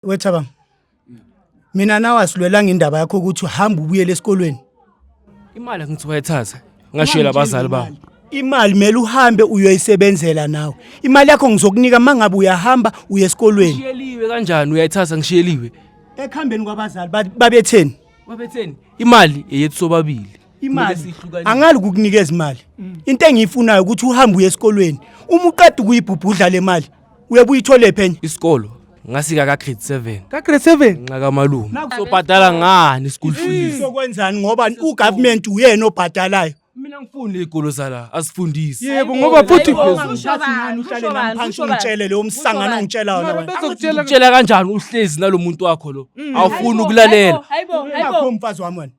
wethabanga mina nawe asilwelanga indaba yakho ukuthi uhamba ubuyele esikolweni imali angithi wayethatha ngashiyela abazali bami imali mele uhambe uyoyisebenzela nawe imali yakho ngizokunika uma ngabe uyahamba uye esikolweni ngishiyeliwe kanjani uyayithatha ngishiyeliwe ekuhambeni kwabazali ba- babetheni babetheni imali eyethu sobabili imali Kumele siyihlukanise. angali kukunikeza imali into engiyifunayo ukuthi uhambe uye esikolweni uma uqeda ukuyibhubhudla le mali uyabe uyitholephi enye isikolo ngasika ka grade 7 ka grade 7 nxa kamalume sobhadala ngani school fees sokwenzani ngoba ugovernment uyena obhadalayo mina ngifuni igolo zala asifundisi yebo ngoba futhi ungitshele leyo msangano ongitshela wona wena utshela kanjani uhlezi nalomuntu wakho lo mm. awufuni ukulalela akho mfazi wami wena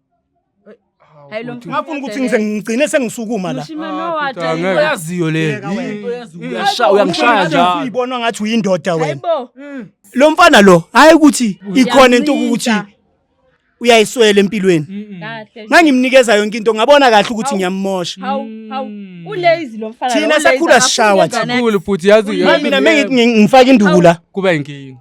Hayi lo mfana. Ngafuna ukuthi ngize ngigcine sengisukuma la. Uyaziyo le. Uyashaya uyangishaya njalo. Uyibona ngathi uyindoda wena. Hayibo. Mm. Lo mfana lo hayi ukuthi ikhona into ukuthi uyayiswela empilweni. Kahle. Ngangimnikeza yonke into ngabona kahle ukuthi ngiyamosha. Hawu hawu. Mm. Ulazy lo mfana. Thina sakhula sishawa thina. Kakhulu futhi yazi. Mina mengithi ngifaka induku la. Kuba inkinga.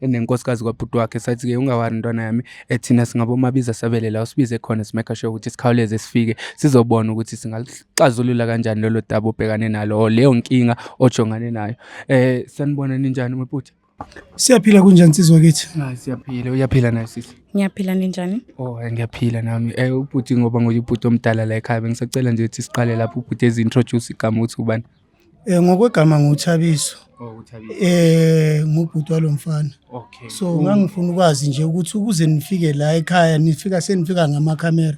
enenkosikazi kwabhuti wakhe sathi ke ungawari ntwana yami ethina singabomabiza sabele la usibize khona simeka sure ukuthi sikhawuleze sifike sizobona ukuthi singaxazulula kanjani lolo daba obhekane nalo or leyo nkinga ojongane nayo eh sanibona ninjani mputi Siyaphila kunjani nsizwa kithi? Hayi siyaphila, uyaphila naye sisi. Ngiyaphila ninjani? Oh, ngiyaphila nami. Eh ubhuti ngoba ngoyubhuti omdala la ekhaya bengisacela nje ukuthi siqale lapho ubhuti ezintroduce igama ukuthi ubani. Eh ngokwegama nguthabiso. Oh uthabiso. Eh ngubhuti walomfana. Okay. So ngangifuna ukwazi nje ukuthi ukuze nifike la ekhaya nifika senifika ngama camera.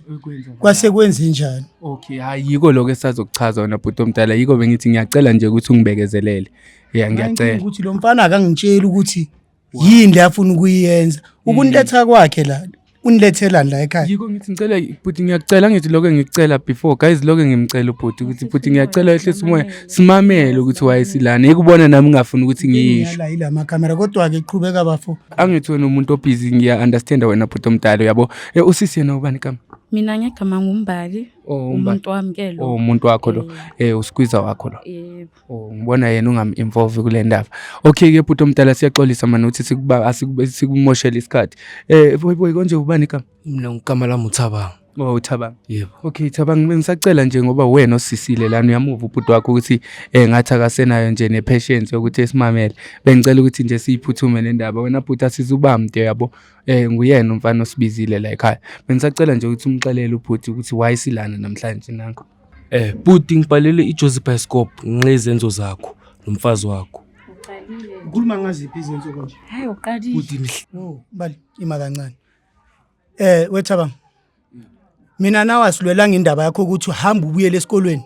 Kwase kwenze njani? Okay, hayi yiko lokho esazokuchaza wena bhuti omdala. Yiko bengithi ngiyacela nje ukuthi ungibekezelele. Yeah ngiyacela. Ukuthi lomfana akangitsheli ukuthi yini le afuna ukuyenza ukunletha hmm. kwakhe la unilethelani la ekhaya yiko ngithi ngicela bhuti ngiyacela ngithi lokho ngicela before guys lokho ngimcela ubhuti ukuthi bhuti ngiyacela ehlisa umoya simamele ukuthi wayesilana yikubona nami ngafuna ukuthi ngiyisho la ila makamera kodwa ke qhubeka bafo angithi wena umuntu obhizi ngiya understand wena bhuti omdala uyabo eh, usisi yena ubani kama mina ngegama ngumbali oh, umuntu wami ke lo oh, umuntu wakho lo eh, eh usikwiza wakho lo yebo Oh, ngibona yena ungam-involve kule ndaba okay ke bhuti omdala siyaxolisa mani ukuthi sikumoshele isikhathi um boyboy konje ubani igama mina ngigama lami uthabanga Oh uThabang. Yebo. Okay Thabang bengisacela nje ngoba wena osisile lana uyamuva ubhuti wakho ukuthi eh ngathi akasenayo nje ne patience yokuthi esimamele. Bengicela ukuthi nje siyiphuthume le ndaba wena bhuti asizubamde yabo. Eh nguyena umfana osibizile la ekhaya. Bengisacela nje ukuthi umxelele ubhuti ukuthi why silana namhlanje nanko. Eh bhuti ngibhalele iJozi Bioscope nqe izenzo zakho nomfazi wakho. Uqalile. Ukhuluma ngaziphi izenzo konje? Hayi uqalile. Bhuti mhle. No, bali ima kancane. Eh wethaba. Mina nawe asilwelanga indaba yakho ukuthi uhamba ubuyele esikolweni.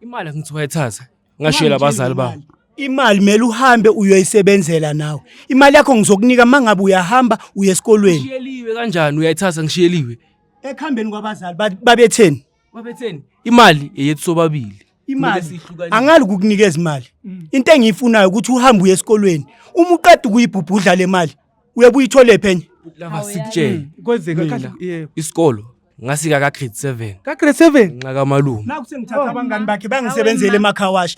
Imali angithi wayithatha. Ngashiyela abazali bami. Imali mele uhambe uyoyisebenzela nawe. Imali yakho ngizokunika mangabe uyahamba uye esikolweni. Ngishiyeliwe kanjani uyayithatha ngishiyeliwe. ekuhambeni kwabazali ba- babetheni babetheni imali eyethu sobabili imali Kumele siyihlukanise. angali kukunikeza imali into engiyifunayo ukuthi uhambe uye esikolweni uma uqeda ukuyibhubhudla le mali uyabe uyithole phenye lava sikutshele kwenzeka mina kahle yebo isikolo ngasika ka grade 7 ka grade 7 nxa kamalume nakusengithatha abangani bakhe bangisebenzele emakhawashi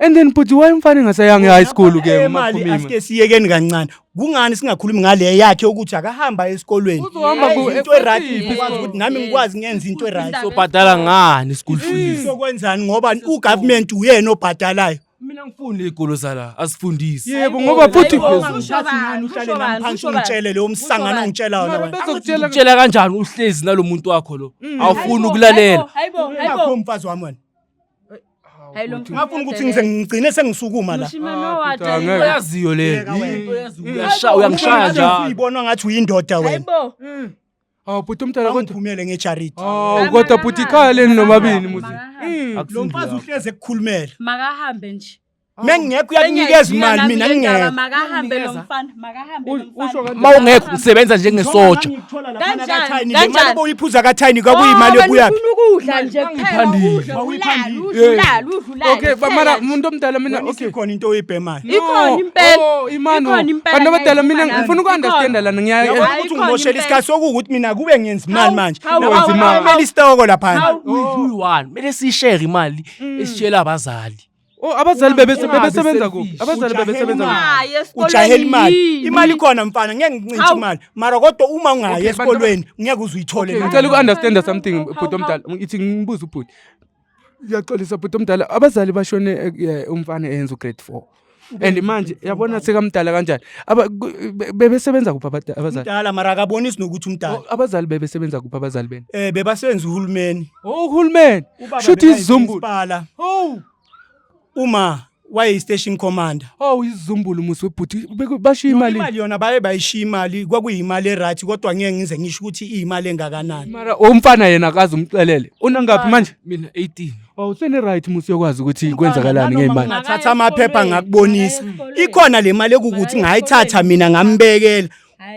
and then bhuti why umfana engasayange high school ke Eh, mali umaphumima asike siyekeni kancane kungani singakhulumi ngale yakhe ukuthi akahamba esikolweni Uzohamba Ayi, ku- into eright ekhotini. ngikwazi ukuthi nami Yes. ngikwazi ngenza into eright sobhadala ngani school fees sokwenzani ngoba ugovernment uyena obhadalayo mina ngifunde igolo zala asifundisi yebo ngoba bhuti Hayibo, phezulu. usho Ushathi bani? ngani uhlale Usho nami bani? phansi Usho bani? ungitshele leyo msangano Usho bani? ongitshela wona Mara wena bezokutshela utshela kanjani uhlezi nalomuntu wakho lo awufuni ukulalela Hayibo, hayibo, hayibo. Ungakho mfazi wami wena Hayi lo mfana. Ngafuna ukuthi ngize ngigcine sengisukuma la. Mushimane Ah, wathi. Peter, ngeke. Uyaziyo le. Yeka wena. Into eyaziyo. Uyasha- Uyangishaya njalo. Uyibona ngathi uyindoda wena. Hayibo. Hawu bhuti umdala kodwa. Angiphumele ngejariti. Hawu kodwa bhuti ikhaya leni nomabini muzi. Lo mfazi uhleze ekukhulumela. Makahambe nje. mengingekho uyakunikeza imali mina ngingekho makahambe lo mfana makahambe lo mfana uma ungekho ngisebenza njengesoja kanjani kanjani boyiphuza kathayini kwakuyimali oh, yokuya ufuna ukudla nje kuphela udla udla udla okay bamara umuntu omdala mina okay khona into oyibhemayo ikhona impela oh, imano bantu abadala mina ngifuna ukunderstand lana ngiyaye ukuthi ngimoshela isikhathi sokuthi mina kube ngenza imali manje nawenza imali mele isitoko lapha mele sishare imali mm. esitshela abazali Oh abazali bebese bebesebenza kuphi? Abazali bebesebenza kuphi? Ungayi esikoleni ujahela imali yini? imali ikhona mfana ngeke ngicintshe Hawu. imali mara kodwa uma ungayi Okay, bantu- esikolweni ngeke uze uyithole Okay, imali. ngicela uku-understanda something How- bhuti omdala ithi ngibuze ubhuti ngiyaxolisa bhuti omdala abazali bashone eh, eh, umfana eyenza ugrade four and manje yabona sekamdala kanjani Aba- ku- be- bebesebenza kuphi abada- abazali mdala mara akabonisi nokuthi umdala Oh, abazali bebesebenza kuphi abazali bena um bebasebenza uhulumeni Oh uhulumeni. Ubaba Shuthi bekayi izizumbulu. principala. Oh. Uma waye station commander. Oh izizumbulu musi webhuti Beku- bashiya Yona imali. Imali yona baye bayishiya imali kwakuyimali eright kodwa ngeke ngize ngisho ukuthi iyimali engakanani. Mara umfana yena akazi umxelele. Unangaphi manje? Mina 18. Oh usene right musi yokwazi ukuthi kwenzakalani Nanoma ngeimali. Ngathatha amaphepha ngakubonisa. Ikhona le mali ekukuthi ngayithatha mina ngambekela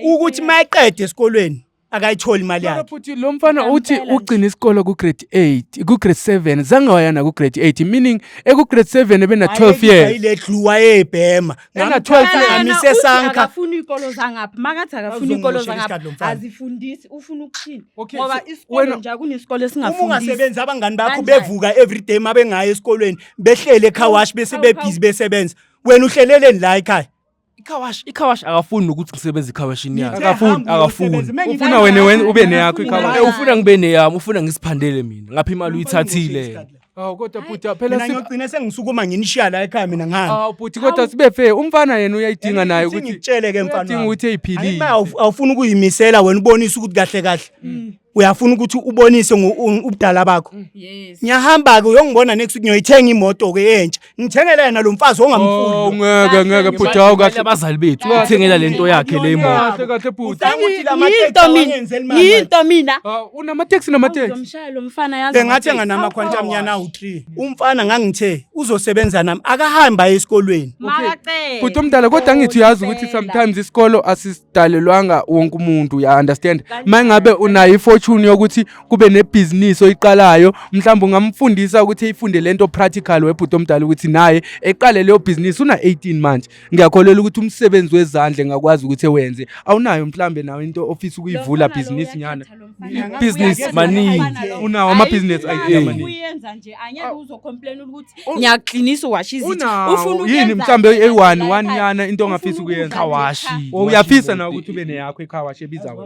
ukuthi mayeqede esikolweni akayitholi imali yakhe futhi lo mfana uthi ugcina isikolo ku-grade 8 ku-grade 7 zange waya naku-grade 8 meaning eku-grade 7 ebena 12 years ile dluwa yebhema Ena 12 years. ngamise sanka akafuni iy'kolo zangapha makathi akafuni iy'kolo Uzongiboshela zangapha isikhathi lo mfana. azifundisi ufuna ukuthini Okay, ngoba so isikolo wena- nje akunesikolo uma esingafundisi ungasebenzi abangani bakho Kanjani? bevuka everyday uma bengayi esikolweni behlele ekhawashi bese Awu, bebhizi besebenza wena uhleleleni la ekhaya ikhawashi ikhawashi akafuni nokuthi ngisebenze ekhawashini yakhe akafuni akafuni ufuna wena wena ube neyakho ikhawashi Eh, ufuna ngibe neyami ufuna ngisiphandele mina ngapha imali uyithathile awu kodwa bhuti mina phela si- ngiyogcina sengisukuma nginishiya la ekhaya mina ngihamba awu bhuti kodwa sibe fair umfana yena uyayidinga naye ukuthi ngikutshele ke mfana uyadinga wami. ukuthi eyiphilile Ayima, awuf- awufuni ukuyimisela wena ubonise ukuthi kahle kahle Mm. uyafuna ukuthi ubonise ngo- u- ubudala bakho yes ngiyahamba-ke uyongibona next week ngiyoyithenga imoto-ke entsha ngithengele yena lo mfazi Oh ongamfuni ngeke ngeke bhuti hawu Kahle kahle. abazali bethu Kahle, uthengela bhuti. lento yakhe le imoto. Kahle kahle bhuti. Ucabanga ukuthi la mateksi yinto mina awangenzeli mali? yinto mina Ah, Unamateksi namateksi. uzomshaya lo mfana yazi bengathi anganama khwantamnyana awu-3 umfana ngangithe uzosebenza nami akahambi aye esikolweni makacela Bhuti omdala kodwa ngithi uyazi ukuthi sometimes isikolo asidalelwanga wonke umuntu ya understand. Kanjalo, Mangabe unayo ifortune yokuthi kube nebhizinisi oyiqalayo mhlawumbe ungamfundisa ukuthi eyifunde lento practical webhuti omdala ukuthi naye eqale leyo bhizinisi una 18 manje ngiyakholelwa ukuthi umsebenzi wezandla engakwazi ukuthi ewenze awunayo mhlawumbe nawe into ofisa ukuyivula bhizinisi nyana ibhizinisi maningi unawo amabhizinisi ayiyamaningi uyenza nje anyeke uzocomplain ukuthi oh. ngiyaqinisa uwasha izinto ufuna yini mhlawumbe eyi-one one nyana into ongafisa ukuyenza uyaphisa na ukuthi ube neyakho ikhawashi ebizayo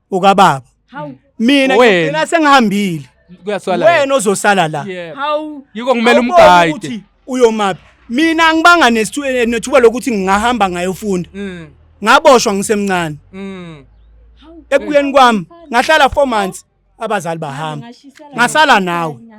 ukababa Hawu. mina Wena. ngigcina sengihambile kuyaswala wena ozosala la Yeah. Hawu. yiko ngimele Awuboni umgayide ukuthi uyomaphi mina angibanga nestu- eh, nethuba lokuthi ngingahamba ngayofunda Mm, ngaboshwa ngisemncane mm. ekubuyeni kwami ngahlala four months abazali bahamba Ngashisela ngasala nawe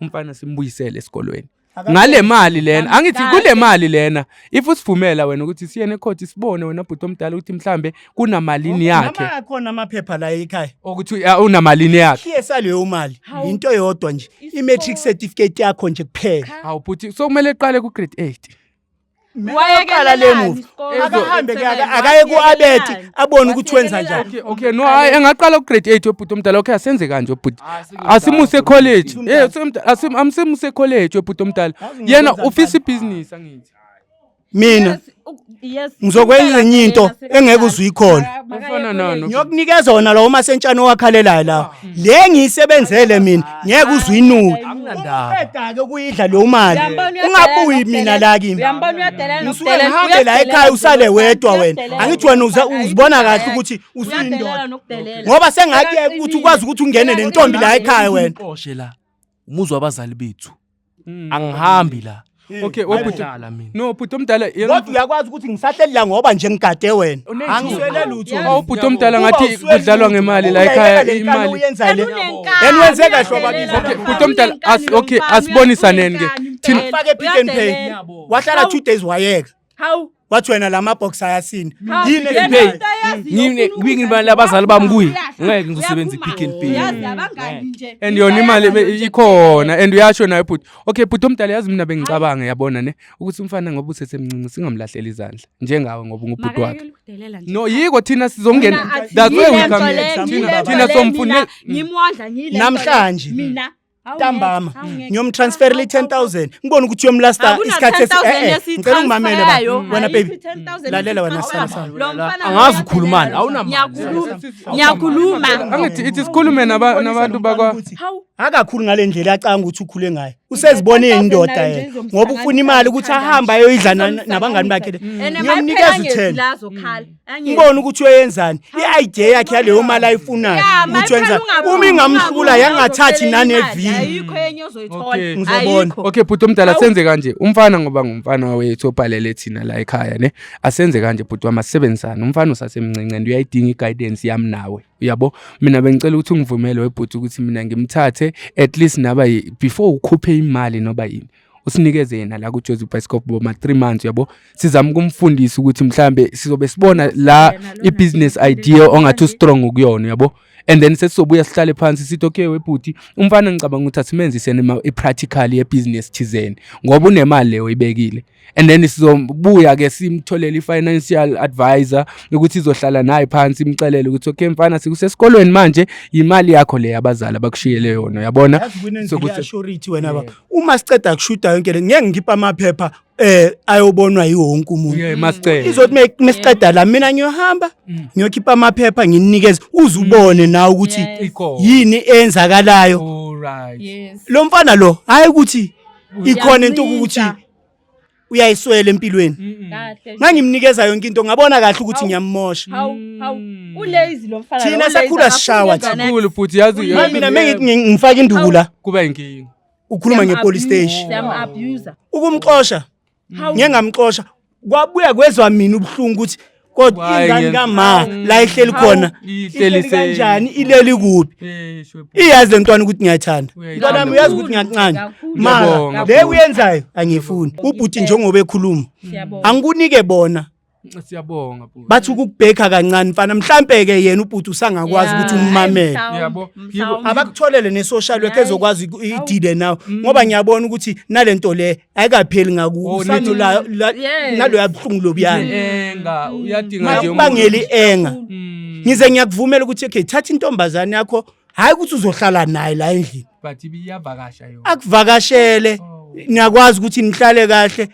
umfana simbuyisele esikolweni ngale mali lena angithi kule mali lena if usivumela wena ukuthi siye necourt sibone wena bhuti omdala ukuthi mhlambe kunamalini yakhe noma khona amaphepha la ekhaya ukuthi unamalini yakhe PSA leyo mali into yodwa nje i matric certificate yakho nje kuphela hawu bhuti so kumele iqale ku grade 8 wayeqala le movie akahambe ke akaye kuabeti abone ukuthi wenza njani okay no hayi engaqala ugrade 8 obhuti omdala okay asenze kanje obhuti ah, asimuse college eh asim amsimuse college obhuti omdala yena ufisa ibusiness angithi mina ngizokwenza enye into engeke uzuyikhona ngiyokunikeza wona lawo masentshana owakhalelayo lawo le ngiyisebenzele mina ngeke uzwe inuka uqeda-ke ukuyidla leyo mali ungabuyi mina la kimi ngisuke ngihambe la ekhaya usale wedwa wena angithi wena uzibona kahle ukuthi usuyindoda ngoba sengakuyeka ukuthi ukwazi ukuthi ungene nentombi la ekhaya wena umuzwa abazali bethu Mm. angihambi la Okay, wabhuti. Ngiyadlala mina No, bhuti omdala yena- kodwa uyakwazi ukuthi ngisahleli la ngoba nje ngigade wena Unenkinga. angiswele lutho Yazi. Awu bhuti omdala Uba ngathi uswele kudlalwa lutho. ngemali la Uyayeka ekhaya le nkani imali. uyenza le Unenkani, Yena wenze kahle uyadelela wabakithi. Okay, mfana. bhuti omdala as okay asibonisaneni ke. Thina Akufake pick and pay. Uyadelela. wahlala 2 days wayeka Hawu. Wathi wena lama box ayasini. Yini ngiphe? Ngine kwingi imali abazali bami kuyi. Ngeke ngizosebenza ipick and pay. Yazi abangani nje. And yona imali ikhona and uyasho nayo bhuti. Okay bhuti omdala yazi mina bengicabanga yabona ne ukuthi umfana ngoba usesemncinci singamlahleli izandla njengawe ngoba ngubhuti wakhe. No yiko thina sizongena. That's why we come. Thina somfune. Ngimwondla ngile. Namhlanje. Mina ntambama ngiyomtransferela i-ten thousand ngibone ukuthi uyomlasta isikhathi ngicela ungimamele ba wena baby lalela wena sana sana angazi ukhulumani awunamngiyakhuluma angithi ithi sikhulume nabantu bakwa akakhulu ngale ndlela acanga ukuthi ukhule ngayo usezibona eyindoda yena ngoba ufuna imali ukuthi ahambe ayoyidla nabangani bakhe ngiyomnikeza u-ten ngibona ukuthi uyenzani i-idea yakhe yaleyo mali ayifunayo ukuthi wenza uma ingamhlula yangathathi naneviyo ngizobona okay bhuti omdala senze kanje umfana ngoba ngumfana wethu obhalele thina la ekhaya ne asenze kanje bhuti wami asisebenzisane umfana usasemncinci and uyayidinga i-guidance yami nawe uyabo mina bengicela ukuthi ungivumele webhuti ukuthi mina ngimthathe at least naba before ukhuphe imali noba yini usinikeze yena la kuJozi Bhayisikobho boma 3 months yabo sizama ukumfundisa ukuthi mhlambe sizobe sibona la ibusiness idea ongathi ustrong kuyona yabo and then sesizobuya sihlale phansi sithi okay webhuti umfana ngicabanga ukuthi asimenzisene i-practical yebusiness thizeni ngoba unemali leyo ibekile and then sizobuya ke simtholele i-financial advisor ukuthi izohlala naye phansi imxelele ukuthi okay mfana sikusesikolweni manje imali yakho le abazali abakushiyele yona yabona sokuthi wena uma siceda kushuda yonke le ngeke ngikhiphe amaphepha eh ayobonwa yiwonke umuntu yeah masicela izothi mesiqeda la mina ngiyohamba mm. ngiyokhipha amaphepha nginikeze uzubone mm. na ukuthi yini eyenzakalayo right yes lo mfana lo hayi ukuthi ikhona into ukuthi uyayiswela empilweni kahle ngangimnikeza yonke into ngabona kahle ukuthi ngiyamosha hawu hawu Mm. ulazy lo mfana Thina lo, sakhula ulazy, sishawa akafunde thina. kakhulu futhi yazi Manje yazi- mina mengithi ngi- ngifake induku la kuba inkinga ukhuluma Siyam- ngepolice station Siyam-abuser. ukumxosha Hawu. ngiye ngamxosha kwabuya kwezwa mina ubuhlungu ukuthi kodwa Why ingane ngenza- kama la ihleli khona Awu, ihleli ihleli se- kanjani ileli kuphi Eh, shwe bhuti. iyazi le ntwana ukuthi ngiyayithanda Uyayithanda. mntwana wami uyazi ukuthi ngiyancane Kakhulu. mara Ngiyabonga, le bhuti. uyenzayo angiyifuni ubhuti njengoba ekhuluma Siyabonga. angikunike bona Siyabonga bhuti. bathi ukukubhekha kancane mfana mhlampe-ke yena ubhuti usangakwazi Yeah. ukuthi ummamele Mhlawumbe, Yabo. mhlawumbe. abakutholele ne-social work Yeah. ezokwazi iku- idile nawe ngoba ngiyabona ukuthi nale nto le ayikapheli ngakuwe Oh, usano nithi- la- la- Yes. nalo yabuhlungu lobuyana enga uyadinga nje umuntu. makubangela i-enga Mm, ngize ngiyakuvumela ukuthi okay thatha intombazane yakho hhayi ukuthi uzohlala naye la endlini but ibiyavakasha yona akuvakashele Oh. niyakwazi ukuthi nihlale kahle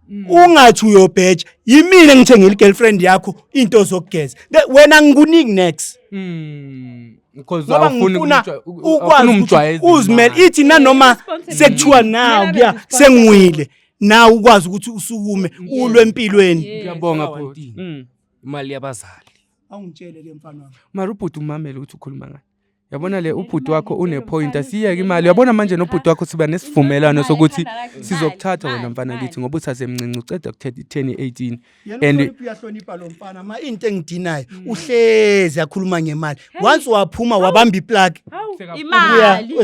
Mm. ungathi uyobheja yimina ngithengela i-girlfriend yakho into zokugeza Le- wena ngikuningi next Mm. because ngoba awufuni ngifuna kumjwa- u- ukwazi awufuni ukuthi umjwayeze uzimele imali. ithi nanoma Responsibility. sekuthiwa nawu Kumele kuya abe sengiwile nawe ukwazi ukuthi usukume ulwe empilweni Yes. Ngiyabonga Sawa, bhuti. Ntini. Mm. Imali yabazali. awungitshele ke mfana wami Mara ubhuti umamele ukuthi ukhuluma ngani. Yabona le ubhuti wakho une point asiyeke imali. Yabona manje nobhuti wakho siba nesivumelwano sokuthi sizokuthatha wena mfana kithi ngoba usasemncinci uceda kuthetha 10 18. and uyahlonipha lo mfana ma into engidinayo mm. uhlezi akhuluma ngemali once waphuma wabamba iplug imali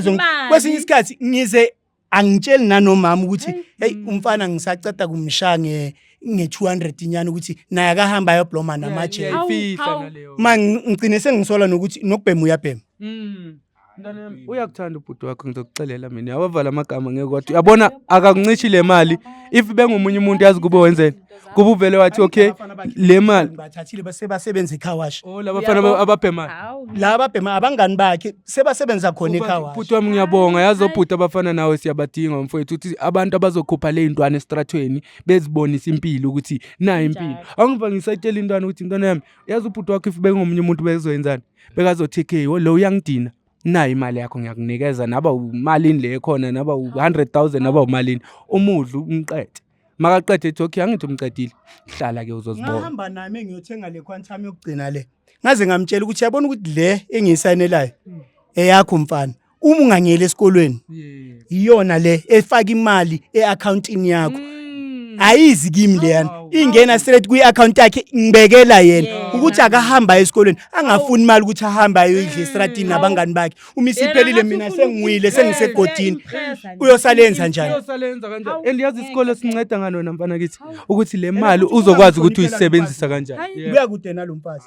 kwesinye isikhathi ngize angitsheli nanomama ukuthi hey mm. umfana ngisaceda kumsha nge nge-200 inyana ukuthi naye akahamba ayobloma namaje ma ngigcine sengisola nokuthi nokubhema uyabhema mm. mntana yami uyakuthanda ubhuti wakho ngizokuxelela mina awavala amagama ngeke wathi uyabona akakuncishi le mali if bengomunye umuntu yazi kube wenzeni kuba uvele wathi okay le mali bathathile base basebenza ecar wash oh laba fana ababhemayo Hawu. la babhema abangani bakhe sebasebenza khona ecar wash bhuti wami ngiyabonga yazi obhuti abafana nawe siyabadinga mfowethu ukuthi abantu abazokhupha le ntwana esitratweni bezibonisa impilo ukuthi nayo impilo Njalo. awungiva ngisayitshela intwana ukuthi ntwana yami yazi ubhuti wakho if bengomunye umuntu bezoyenzani bekazothi okay oh, lo uyangidina nayi imali yakho ngiyakunikeza naba umalini le khona naba u100000 naba umalini umudla umqede makaqede ethi okay angithi umqedile hlala ke uzozibona ngihamba nami ngiyothenga le quantum yokugcina le ngaze ngamtshela ukuthi yabona ukuthi le engiyisayinelayo eyakho mfana uma ungangeli esikolweni iyona le efaka imali eaccountini yakho mm. ayizi kimi leyana ingena straight kwi account yakhe ngibekela yena ukuthi akahamba esikolweni angafuni imali ukuthi ahambe ayoyidla mm. estratini nabangani bakhe uma isiphelile mina sengiwile sengisegodini uyosalenza njani uyosalenza kanjani and yazi isikole sinceda ngalona mfana kithi ukuthi le mali uzokwazi ukuthi uyisebenzisa kanjani kuya kude nalomfazi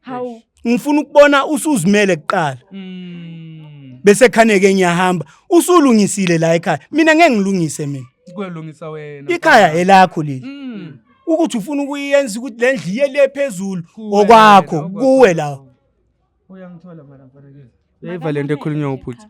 hawu ngifuna ukubona usuzimele kuqala Mm. bese khaneke ngiyahamba usulungisile la ekhaya mina ngeke ngilungise mina Kuyolungisa wena. ikhaya elakho leli Mm. ukuthi ufuna ukuyenza ukuthi le ndlu iye le phezulu Kuwe okwakho wena, kuwe la Uyangithola mara mfanekiso. Uyayiva le nto ekhulunywa ubhuti.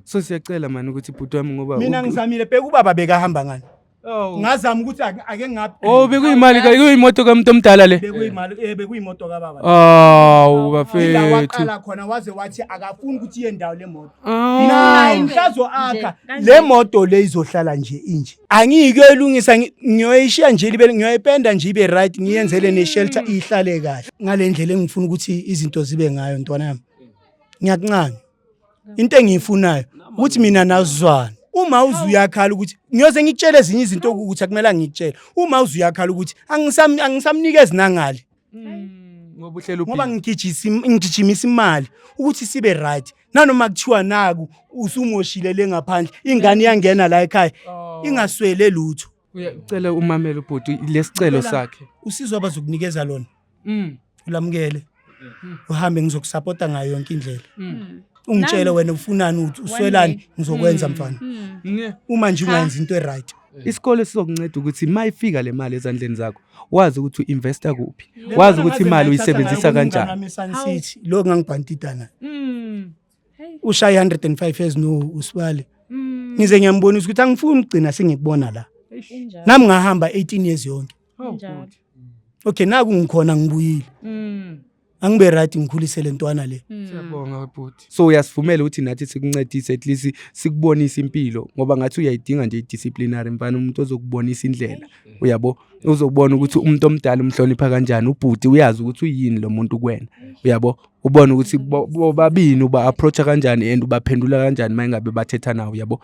So siyacela mani ukuthi bhuti wami ngoba mina ngisamile bheka ubaba bekahamba ngani Oh. ngazama ukuthi ake ngaphi oh bekuyimali ka kuyimoto kamuntu omdala le bekuyimali eh bekuyimoto ka baba awu bafethu la waqala khona waze wathi akafuni ukuthi iye ndawo le moto mina ngisazo akha le moto le izohlala nje inje angiyikuyilungisa ngiyoyishiya nje libe ngiyoyipenda nje ibe right ngiyenzele ne shelter ihlale kahle ngalendlela engifuna ukuthi izinto zibe ngayo ntwana yami ngiyakuncane into engiyifunayo ukuthi mina nazizwane uma uze uyakhala ukuthi ngiyoze ngikutshele ezinye izinto ukuthi akumele ngikutshele uma uze uyakhala ukuthi angisamnikezi nangali hmm, ngoba ngigijimisa imali ukuthi sibe right nanoma kuthiwa naku usumoshile le ngaphandle ingane iyangena la ekhaya oh. ingaswele lutho uyacela umamele ubhuti lesicelo sakhe usizo abazokunikeza lona mm. ulamukele mm. uhambe ngizokusapota ngayo yonke indlela mm. ungitshele wena ufunani uthi uswelani ngizokwenza mm. mfana mm. uma nje ungayenza into eright Eh. isikole sizokunceda ukuthi uma ifika le mali ezandleni zakho wazi ukuthi u-investa kuphi wazi ukuthi imali uyisebenzisa kanjani lokhu ngangibhantidana hmm. ushaye 105 years no usibali mm. ngize ngiyambonisa ukuthi angifuni ukugcina singikubona la nami ngahamba 18 years yonke oh, okay naku ngikhona ngibuyile mm. angibe right ngikhulise le ntwana le mm. siyabonga bhuti so uyasivumela ukuthi nathi sikuncedise at least sikubonise impilo ngoba ngathi uyayidinga nje idisciplinary mfana umuntu ozokubonisa indlela uyabo uzokubona ukuthi umuntu omdala umhlonipha kanjani ubhuti uyazi ukuthi uyini lo muntu kuwena uyabo ubone ukuthi bobabini uba approacha kanjani and ubaphendula kanjani uma ingabe bathetha nawo yabo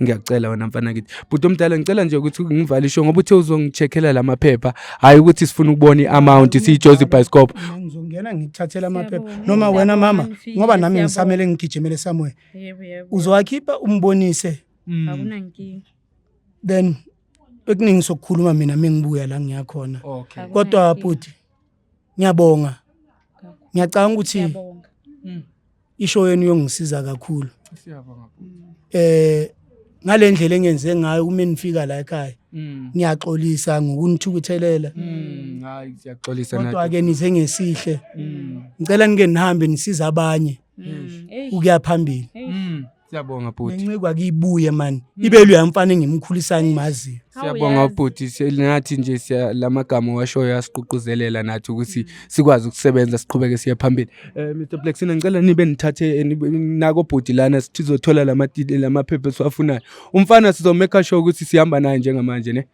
ngiyacela wena mfana kithi bhuti omdala ngicela nje ukuthi ngivale isho ngoba uthe uzongicheckela la maphepha hhayi ukuthi sifuna ukubona i-amount siyijozi bhayisikobho ngizongena ngikuthathela amaphepha noma wena mama ngoba nami ngisamele ngigijimele somewhere uzowakhipha umbonise mm. then ekuningi sokukhuluma mina mengibuya la ngiyakhona kodwa bhuti ngiyabonga ngiyacanga ukuthi Siyabonga. isho yenu yongisiza kakhulu Siyabonga bhuti. eh ngalendlela engenze ngayo uma nifika la ekhaya Mm. ngiyaxolisa ngokunithukuthelela Mm, hayi siyaxolisa kodwa nathi. ke nize ngesihle Mm. ngicela nike nihambe nisiza abanye Mm. Hey. ukuya phambili Mm. Siyabonga bhuti. Nencikwa kibuye man. Hmm. Ibe luya mfana engimkhulisa ngimaziyo. Siyabonga bhuti sinathi nje siya lamagama washo yasiququzelela nathi ukuthi hmm. sikwazi ukusebenza siqhubeke siye phambili. Eh Mr Blacksina ngicela nibe nithathe eh, nako bhuti lana sizothola lama lamaphepha esiwafunayo. Umfana sizomeka sure ukuthi sihamba naye njengamanje ne.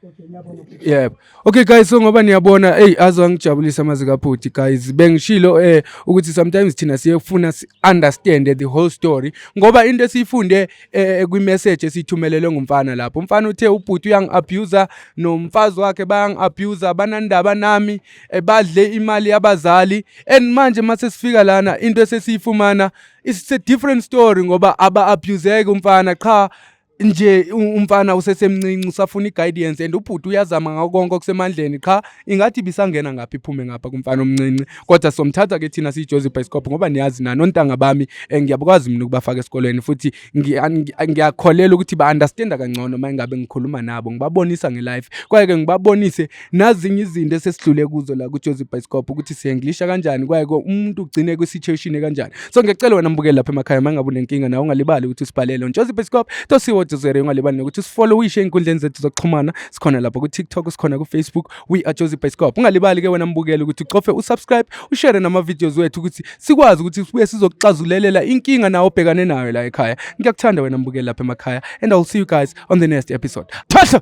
Yebo. Okay guys so ngoba niyabona hey azo angijabulisa amazi kabhuti guys bengishilo eh ukuthi sometimes thina siyefuna si understand the whole story ngoba into esiyifunde eh, eh kwi message esithumelelwe ngumfana lapho umfana uthe ubhuti uyang abuser nomfazi wakhe bayang abuser banandaba nami eh, badle imali yabazali and manje mase sifika lana into esesiyifumana it's a different story ngoba aba abuseke umfana qha nje umfana usesemncinci usafuna i-guidance and ubhuti uyazama ngako konke okusemandleni qha ingathi ibisangena ngapha iphume ngapha kumfana omncinci kodwa somthatha ke thina siyijozi bhayisikopho ngoba niyazi nani ontanga bami eh, ngiyabukwazi mina ukubafaka esikolweni futhi ngiyakholela ukuthi ba-understanda kangcono uma ingabe ngikhuluma nabo ngibabonisa ngelife kwaye-ke ngibabonise nazinye izinto esesidlule kuzo la kuJozi Bhayisikobho ukuthi siyenglisha kanjani kwaye umuntu ugcine kwi-situation ekanjani so ngiyacela wena mbukeli lapha emakhaya uma ngabe unenkinga nawe ungalibali ukuthi usibhalele uJozi Bhayisikobho tosiwojozere ungalibali nokuthi usifollowishe ey'nkundleni zethu zokuxhumana sikhona lapha ku-tiktok sikhona ku-facebook we are Jozi Bhayisikobho ungalibali ke wena mbukeli ukuthi ucofe usubscribe ushere nama-videos wethu ukuthi sikwazi ukuthi sibuye sizokuxazulelela inkinga nawe obhekane nayo la ekhaya ngiyakuthanda wena mbukeli lapha emakhaya and i will see you guys on the next episode thatha